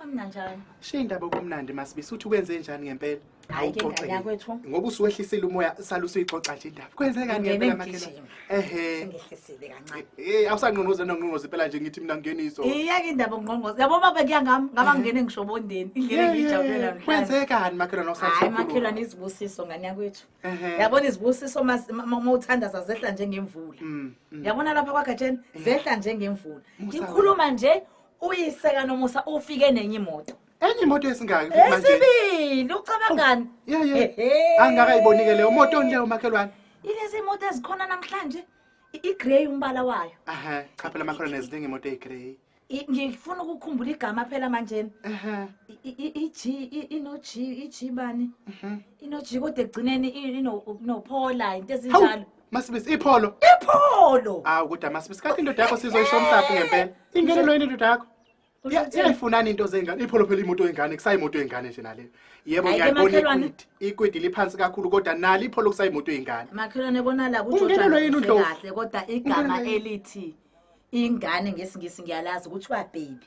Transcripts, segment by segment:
Amnandi njani? Shiya indaba okumnandi masibisi uthi kwenze njani ngempela? Hayi ke ngane yakwethu. Ngoba usuwehlisile umoya sala usuyixoxa nje indaba. Kwenze kani ngempela makhelwane? Ehhe. Ngihlisile kancane. Eh awusangqongoza nongqongoza impela nje ngithi mina ngeniso. Iyeke indaba ngqongoza. Yabo baba kuyangami ngaba ngene ngisho bondeni. Indlela engijabulela mhlawumbe. Kwenze kani makhelwane osathi? Hayi makhelwane izibusiso ngane yakwethu. Yabona izibusiso uma uthanda zazehla njengemvula. Mm, mm. Yabona lapha kwaGatsheni eh. zehla njengemvula. Ngikhuluma nje Uyise kaNomusa ufike nenye imoto. Enye imoto esingaki futhi manje? Esibili ucabangani? Yeah yeah. Ehhe. Angakayibonike leyo moto onleyo makhelwane. Ilezi imoto ezikhona namhlanje i- igrey umbala wayo. Aha, cha phela makhona neziningi imoto eyigrey. I- Ngifuna ukukhumbula igama phela manje. Aha. I- i- i- iG i- ino G iG bani? Mhm. Ino G kodwa ekugcineni i- ino no Paula into Hawu, ezinjalo. Masibisi ipholo. Ipholo. Hawu kodwa masibisi kanti indoda yakho sizoyisho umsaphi ngempela. Ingenelo yini indoda yakho? Iya- Iyayifunani into zengane? Ipholo phela imoto yengane, kusayimoto yengane nje naleyo. Yebo Ayike ngiyayibona makhelwane. ikwidi. Ikwidi liphansi kakhulu kodwa nali ipholo kusayimoto yengane. makhelwane bona la Ungenelwe yini uNdlovu? kahle kodwa igama Ungenelwe yini? elithi ingane ngesingisi ngiyalazi kuthiwa baby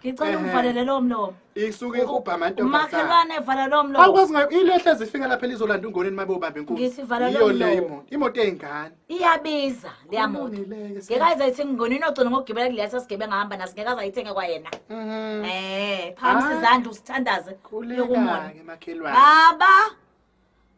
ngicela Ehhe. ungivalele lowo mlomo isuke ihubha amantombazane umakhelwane evala lowo mlomo awukwazi ngayo ilehle ezifika lapha elizolanda ungoneni mabe ubambe inkunzi Ngithi vala yiyo lomlomo. le imoto imoto ey'ngane iyabiza leya moto Kulungile-ke, sisi. ngeke ayizayithi ngingonini ogcina ngokugibela kuleli sasigebe ngahamba naso ngeke azayithenge kwayena Mhm. Eh, phamisa Ah. izandla usithandaze yokumona. Khuleka-ke makhelwane Baba.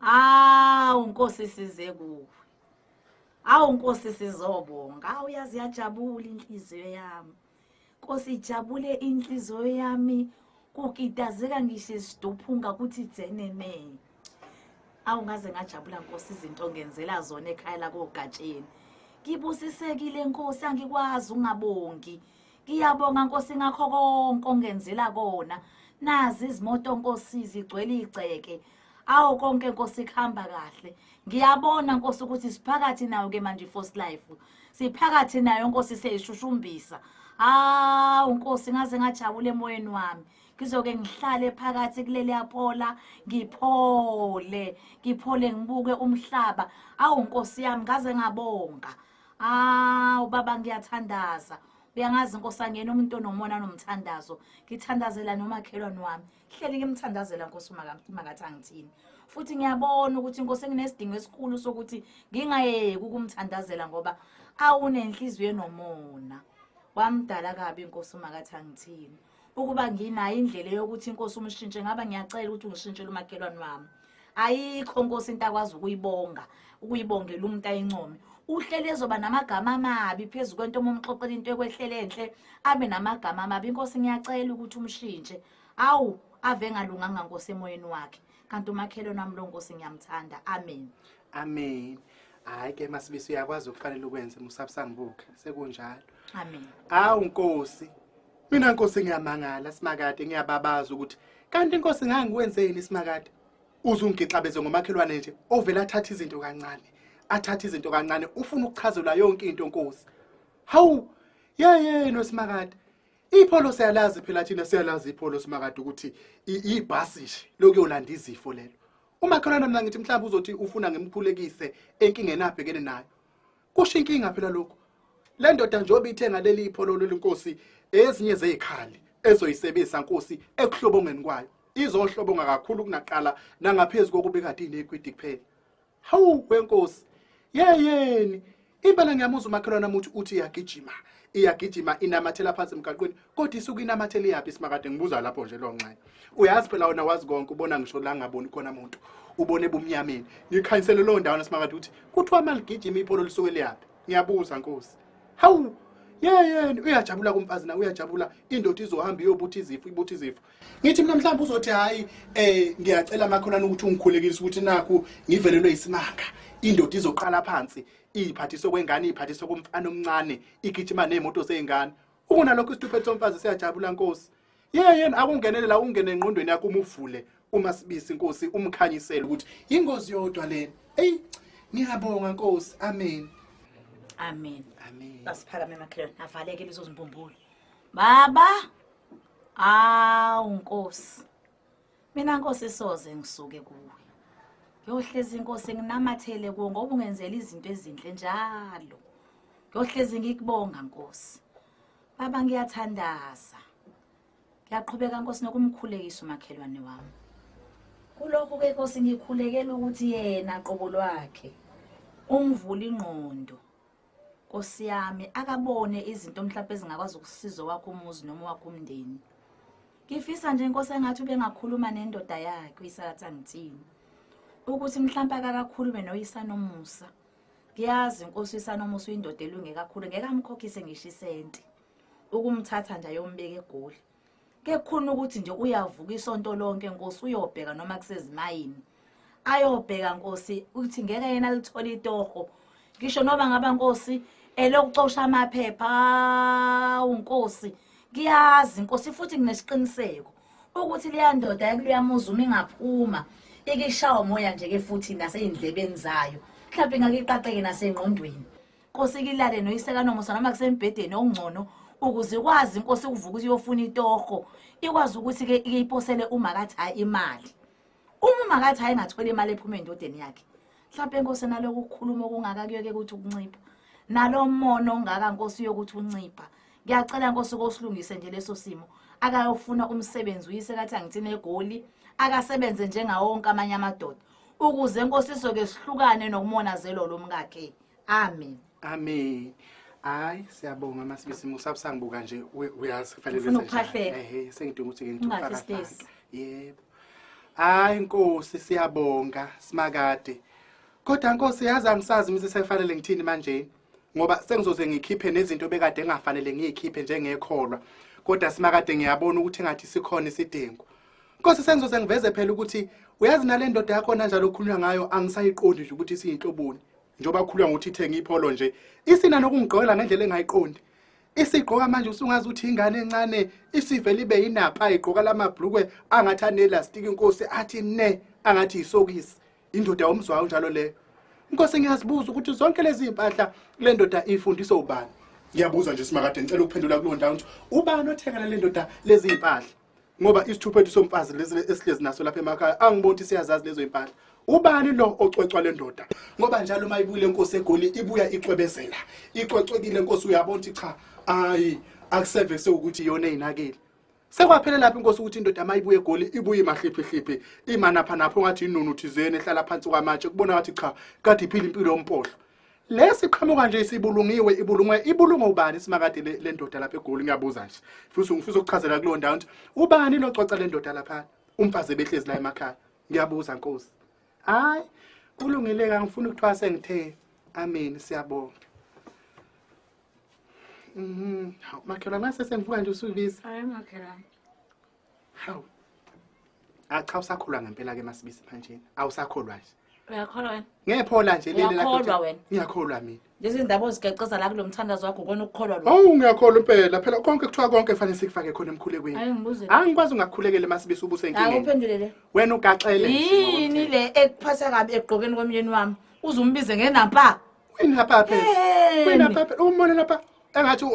Awu Nkosi size kuwe. Awu Nkosi sizobonga. Awu yazi yajabula inhliziyo yami. Nkosi jabule inhliziyo yami kukitazeka ngisho isiduphunga ukuthi dzenene awu ngaze ngajabula nkosi izinto ngenzela zona ekhaya lakogatsheni ngibusisekile nkosi angikwazi ungabongi ngiyabonga nkosi ngakho konke ongenzela kona nazi izimoto nkosi zigcwele igceke awo konke nkosi kuhamba kahle ngiyabona nkosi ukuthi siphakathi nayo ke manje first life siphakathi nayo nkosi seyishushumbisa hawu nkosi ngaze ngajabula emoyeni wami ngizoke ngihlale phakathi kuleli yaphola ngiphole ngiphole ngibuke umhlaba awu nkosi yami ngaze ngabonga awu baba ngiyathandaza uyangazi nkosi angena umuntu onomona nomthandazo ngithandazela nomakhelwane wami hleli ngimthandazela nkosi makathi angithini futhi ngiyabona ukuthi inkosi enginesidingo esikhulu sokuthi ngingayeki ukumthandazela ngoba awunenhliziyo enomona wamdala kabi inkosi makathi angithini ukuba nginayo indlela yokuthi inkosi umshintshe ngaba ngiyacela ukuthi ungishintshele umakhelwane wami ayikho nkosi into akwazi ukuyibonga ukuyibongela umuntu ayincome uhleli ezoba namagama amabi phezu kwento uma umxoxela into ekwehlele enhle abe namagama amabi inkosi ngiyacela ukuthi umshintshe awu ave engalunganga nkosi emoyeni wakhe kanti umakhelwane wami lo nkosi ngiyamthanda amen amen hayi ke masibisi uyakwazi ukufanele ukwenze musabusangibuke sekunjalo amen awu nkosi Mina Nkosi ngiyamangala Simakade ngiyababaza ukuthi kanti Nkosi ngangikwenzeni Simakade uzungixabeze ngomakhelwane nje ovela athatha izinto kancane athatha izinto kancane ufuna ukuchazelwa yonke into Nkosi hawu yeye noSimakade ipholo siyalazi phela thina siyalazi ipholo Simakade ukuthi ibhasi nje lokuyolanda izifo lelo umakhelwane mina ngithi mhlawumbe uzothi ufuna ngimkhulekise enkingeni abhekene nayo kusho inkinga phela lokhu le ndoda njengoba ithenga leli ipholo lenkosi ezinye zezikhali ezoyisebenzisa nkosi ekuhlobongeni kwayo izohlobonga kakhulu kunaqala nangaphezulu kokuba kade inekwidi kuphela hawu wenkosi yeyeni impela ngiyamuzwa umakhelwana muthi uthi iyagijima iyagijima inamathela phansi emgaqweni kodwa isuke inamathele yaphi simakade ngibuza lapho nje lo nxaye uyazi phela wona wazi konke ubona ngisho la ngaboni khona muntu ubone ebumnyameni ngikhanyisele loo ndawana simakade ukuthi kuthiwa maligijima ipholo lisuke liyaphi ngiyabuza nkosi hawu yeyeni uyajabula kumfazi na uyajabula indoda izohamba iyobuthi izifo ibuthi izifo ngithi mina mhlawumbe uzothi hhayi um eh, ngiyacela amakholana ukuthi ungikhulekise ukuthi nakhu ngivelelwe yisimanga indoda izoqala phansi iyiphathiswe kwengane iyiphathiswe komfana omncane igijima ney'moto zey'ngane Ukunalokho isituphethe somfazi siyajabula Nkosi. Yeyeni akungenelela ukungena engqondweni yakho umuvule uma sibisi Nkosi umkhanyisele ukuthi ingozi yodwa lena. Ey ngiyabonga Nkosi. Amen. Amen. Amen. Basiphakame makhelwane avaleke lezo zimbumbulu. Baba! Awu Nkosi. Mina Nkosi soze ngisuke kuwe. Ngiyohlezi Nkosi nginamathele kuwe ngoba ungenzela izinto ezinhle njalo. Ngiyohlezi ngikubonga Nkosi. Baba ngiyathandaza. Ngiyaqhubeka Nkosi nokumkhulekisa umakhelwane wami. Kulokhu ke Nkosi ngikhulekela ukuthi yena qobo lwakhe umvula ingqondo Nkosi yami akabone izinto mhlawumbe ezingakwazi ukusiza wakho umuzi noma wakho umndeni. Ngifisa nje inkosi engathi ubengakhuluma nendoda yakhe uyisakatha ngithini. Ukuthi mhlawumbe akakakhulume noyisanomusa. Ngiyazi inkosi uyisanomusa uyindoda elunge kakhulu ngeke amkhokhise ngisho isenti. Ukumthatha nje ayombeka egoli. kekhona ukuthi nje uyavuka isonto lonke nkosi uyobheka noma kusezimayini ayobheka nkosi ukuthi ngeke yena lithole itoho ngisho noma ngaba nkosi elokucosha amaphepha awu nkosi ngiyazi nkosi futhi nginesiqiniseko ukuthi leya ndoda yakuleyamuzi uma ingaphuma ikishawa umoya nje-ke futhi nasey'ndlebeni zayo mhlawumpe ingakiqaqeke nasengqondweni Nkosi kilale noyise kanomusa noma kusembhedeni okungcono ukuze ikwazi inkosi ukuvuka ukuthi iyofuna itoho ikwazi ukuthi ke iyiposele uma kathi hayi imali uma uma kathi hayi ngathola imali ephuma endodeni yakhe mhlawumbe inkosi naloku ukukhuluma okungaka kuyoke ukuthi ukuncipha nalo mona ongaka nkosi yokuthi uncipha ngiyacela nkosi kosilungise nje leso simo akayofuna umsebenzi uyise kathi angithini egoli akasebenze njengawonke amanye amadoda ukuze nkosi isoke sihlukane nokumonazelo lomkakhe amen amen hayi siyabonga masibisi musa busangibuka nje we- uyazi kufanele Ufuna senze njani. ukuphahleka. ehe sengidinga ukuthi Ungathi ngifake sitesi. yebo hayi nkosi siyabonga simakade kodwa nkosi yazi angisazi mse sekufanele ngithini manje ngoba sengizoze ngikhiphe nezinto bekade engafanele ngiyikhiphe njengekholwa kodwa simakade ngiyabona ukuthi ngathi sikhona isidingo Nkosi sengizoze ngiveze phela ukuthi uyazi nale ndoda yakho nanjalo okhulunywa ngayo angisayiqondi nje ukuthi siyinhloboni njengoba kukhulwa ngokuthi ithenge ipholo nje isina nokungigqokela ngendlela engayiqondi isigqoka manje usungazi ukuthi ingane encane isivele ibe yinapha igqoka lamabhlukwe angathi anelastiki inkosi athi ne angathi yisokisi indoda yomzwayo njalo leyo inkosi ngiyazibuza ukuthi zonke lezi mpahla le ndoda ifundisa ubani ngiyabuza nje simakade ngicela ukuphendula kulo ndawo ukuthi ubani othengela le ndoda lezi mpahla ngoba isithuphethu somfazi lesi esihlezi naso lapha emakhaya angiboni ukuthi siyazazi lezo impahla ubani lo ocwecwa le ndoda ngoba njalo uma ibuyile inkosi egoli ibuya icwebezela icwecwekile inkosi uyabona ukuthi cha ayi akuseve sewukuthi iyona eyinakile sekwaphela lapho inkosi ukuthi indoda uma ibuye egoli ibuye imahliphihliphi imanapha napho ngathi inunu thizeni ehlala phansi kwamatshe kubona ngathi cha kade iphila impilo yompohlo lesi qhamuka nje isibulungiwe ibulungwe ibulungwe ubani simakade le- le ndoda lapha egoli ngiyabuza nje futhi ngifisa ukuchazela kuleyo ndawo ukuthi ubani locwaca le ndoda lapha umfazi ebehlezi la emakhaya ngiyabuza nkosi hayi kulungile ka ngifuna ukuthiwa sengithe amen siyabonga Mhm. Hawu, makhelwane mase sengivuka nje usubiza Hayi makhelwane. Hawu. Acha usakhulwa ngempela ke masibisi manje. Awusakholwa nje. Uyakholwa wena? Ngephola nje leli lakho. Uyakholwa wena? Ngiyakholwa mina. Lezi indaba ozigeceza la kulomthandazo wakho kona ukukholwa lo. Awu ngiyakholwa impela. Phela konke kuthiwa konke fanele sikufake khona emkhulekweni. Hayi ngibuze. Angikwazi ungakhulekele masibisi ubuse inkini. Hayi uphendule le. Wena ugaxele. Yini le ekuphatha kabi egqokeni komyeni wami? Uzumbize ngenampa. Wena papa. Wena papa. Umona lapha. engathi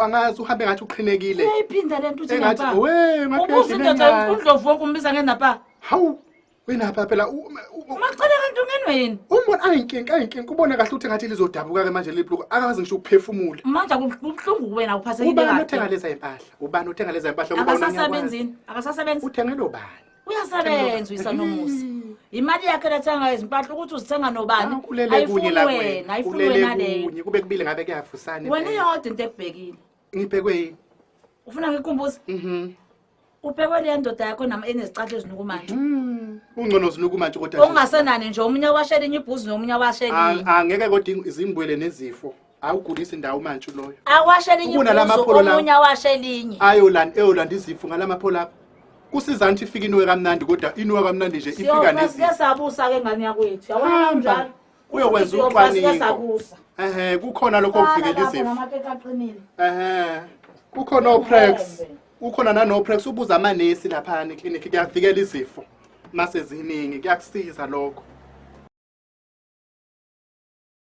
angazi uhambe ngathi uqhinekile uyayiphinda lento uthi engathi napa we ngathi ubuza indoda uyayidinga. undlovu wonke umbiza ngenapa hawu wenapha phela u- u- u- umacela kanti ungenwe yini umbona ayinkinga ayinkinga ubona kahle ukuthi ngathi lizodabuka ke manje lelibhluku akazi ngisho ukuphefumula manje kubuhlungu kuwena uphathekile ubani othenga kahle leza impahla ubani othenga leza impahla ngoba unanyawani? akasasebenzini akasasebenzi uthengele ubani uyasebenza uyisanomusa imali yakhe lethenga izimpahla ukuthi uzithenga nobani Ah, kulele kunye ayifuni la wena kuwena ayifuni wena kulele leyo kunye kube kubile ngabe kuyafusana wena impela. iyodwa into ekubhekile ngibhekwe yini ufuna ngikumbuze Mhm. ubhekwe leyo ndoda yakho nama enezicatha ezinukumanje Mm. ungcono zinuku manje kodwa nje. ongasenani nje omunye washela enye ibhuzi nomunye washela A- enye angeke kodwa ing- izimbwele nezifo awugulisi ndawo manje uloyo awashe elinye Ubona la ibhuzu, mapholo lawa. omunye awashe elinye ayolanda eyolanda izifo ngalamaphola apha kusiza ngithi ifika inowe kamnandi kodwa inowe kamnandi nje ifika Siyofa, nezifo siyasabusa-ke ngane yakwethu yabona Hamba. kanjalo Uyokwenza Siyofa, ucwaningo. siyasabusa. ehe kukhona lokho Qala okuvikela lapho izifo namakeke aqinile ehe kukhona oprex Ngeke. ukhona nanoprex ubuza amanesi laphana eklinikhi kuyavikela izifo mase ziningi kuyakusiza lokho